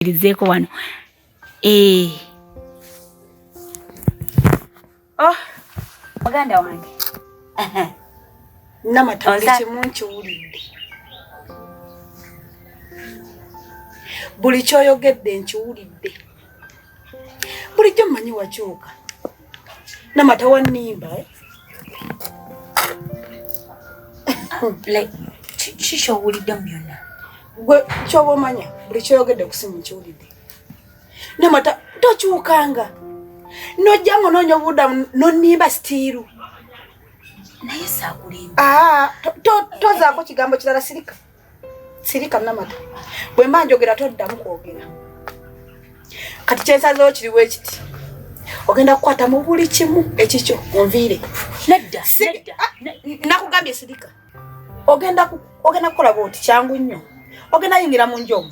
tuwulirizeeko wano ee eh. oh muganda wange namatange kimu nkiwulidde buli kyoyogedde nkiwulidde bulijjo mmanyi wakyuka na matawa nimba eh? like kiki owulidde mu byonna gwe kyoba omanya buli kyoyogedde kusimu nkiwulidde namata tokyukanga nojja nga onoonya obubudamu nonimba sitiiru naye saakulimba ah, tozaako kigambo kirala sirika sirika namata bwe mba njogera toddamu kwogera kati kyensazewo kiriwo ekiti ogenda kukwata mu buli kimu ekikyo onviire nedda ah, nakugambye sirika ogenda kukola bwoti kyangu nnyo ogenda yingira mu nju omu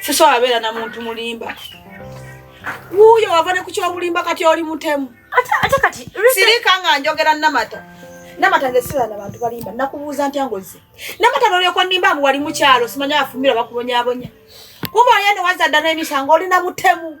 sisobola beera na muntu mulimba wuuyo wava ne ku kyobulimba kati oli mutemu sirika nga njogera namata namata nze sira na bantu balimba nakubuuza ntya ngozi namata nolyokwa nimba mbu wali mukyalo simanya afumira bakubonyabonya kuba oyene wazadda n'emisango oli na mutemu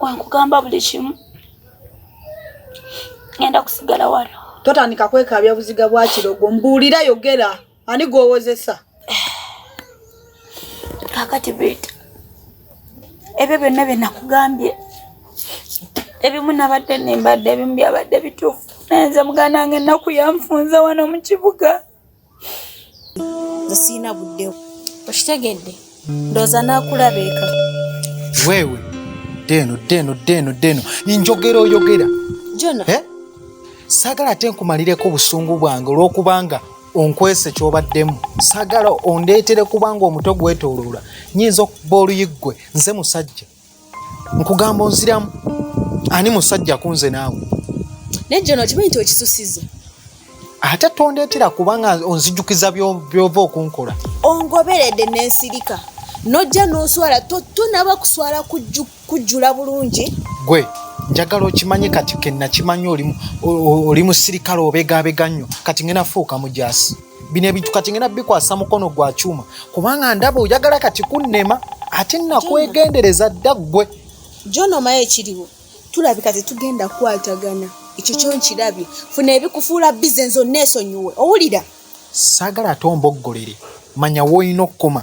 wankugamba buli kimu ngenda kusigala wano totandika kwekaabya buziga bwa kirogo mbuulira yogera ani gwowozesa kakati bita ebyo byonna bye nakugambye ebimu nabadde nembadde ebimu byabadde bituufu naye nze muganda wange ennaku yanfunza wano mu kibuga nze sirina budde okitegedde ndooza n'akulaba eka weewe ddeeno ddeeno ddeeno ddeeno njogera oyogera jona eh? saagala ate nkumalireko obusungu bwange olw'okubanga onkwese kyobaddemu sagala ondeetere kubanga omutwe gwetoloola nyinza okuba oluyiggwe nze musajja nkugamba onziramu ani musajja kunze naawe naye jona okimanyi nti okisusiza ate tondeetera kubanga onzijukiza byova okunkola ongoberedde nensirika nojja noswala tonaba kuswala kujjula bulungi gwe njagala okimanye kati kenakimanya oli musirikale obegabega nnyo kati ngenafuuka mujasi bino ebintu kati ngenda bikwasa mukono gwa kyuma kubanga ndaba oyagala kati kunnema ate nakwegendereza dda ggwe jonomayo ekiriwo tulabika tetugenda kukwatagana ekyo kyo nkirabye funa ebikufuula bize nzo neesonyiwe owulira saagala ate omboggolere manya woolina okukoma